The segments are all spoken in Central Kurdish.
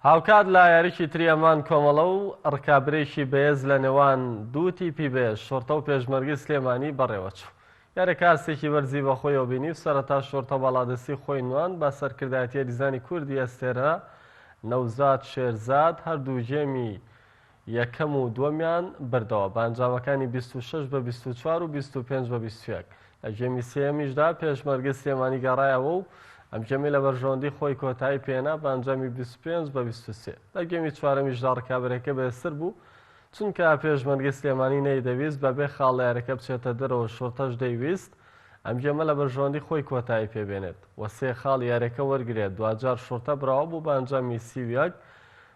هاوکات لە یاریی تری ئەمان کۆمەڵە و رکابرێکی بەێز لە نێوان دوو تیپی بەێز شۆرتە و پێشمەرگەی سلێمانی بەڕێوەچوو. یاریەکە ئاستێکی بەرزی بەخۆیەوە بینی و سەرەتا شۆرتە باڵادەستی خۆی نواند بە سەرکردایەتی یاریزانی کوردی ئەستێرە نەوزاد شێرزاد هەردوو گێمی یەکەم و دووەمیان بردەوە بە ئەنجامەکانی بیست و شەش بە بیست و چوار و بیست و پێنج بە بیست و یەک، لە گێمی سێیەمیشدا پێشمەرگەی سلێمانی گەڕایەوە و ئەم گێمەی لە بەرژەوەندی خۆی کۆتایی پێهێنا بە ئەنجامی بیست و پێنج بە بیست و سێ، لە گێمی چوارەمیشدا ڕکابەرەکە بەهێزتر بوو، چونکە پێشمەرگەی سلێمانی نەیدەویست بەبێ خاڵ لە یاریەکە بچێتە دەرەوە شوڕتەش دەیویست ئەم گێمە لە بەرژەوەندی خۆی کۆتایی پێبێنێت و سێ خاڵی یاریەکە وەرگرێت، دواجار شوڕتە براوە بوو بە ئەنجامی سی و یەک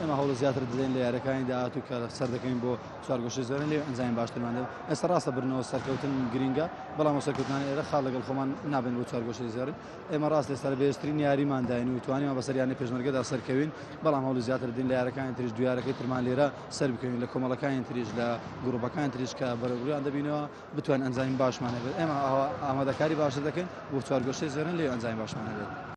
ئێمە هەوڵی زیاتر دەدەین لە یاریەکانی داهاتوو کە سەردەکەین بۆ چوارگۆشی زۆرن لێ ئەنجامی باشترمان دەبێت ئێستا ڕاستە برنەوە سەرکەوتن گرینگە بەڵام سەرکەوتنانی ئێرە خاڵ لەگەڵ خۆمان نابن بۆ چوارگۆشی زۆرن ئێمە ڕاست لێ سەر بێشترین یاریمان داین و توانیمان بەسەر یانە پێشمەرگەدا سەرکەوین بەڵام هەوڵی زیاتر دین لە یارەکانی تریش دویارەکەی ترمان لێرە سەر بکەوین لە کۆمەڵەکانی تریش لە گروپەکان تریش کە بەرەگویان دەبینەوە بتوان ئەنجامی باشمان هەبێت ئێمە ئامادەکاری باشتر دەکەین بۆ چوارگۆشی زۆرن لێ ئەنجامی باشمان هەبێت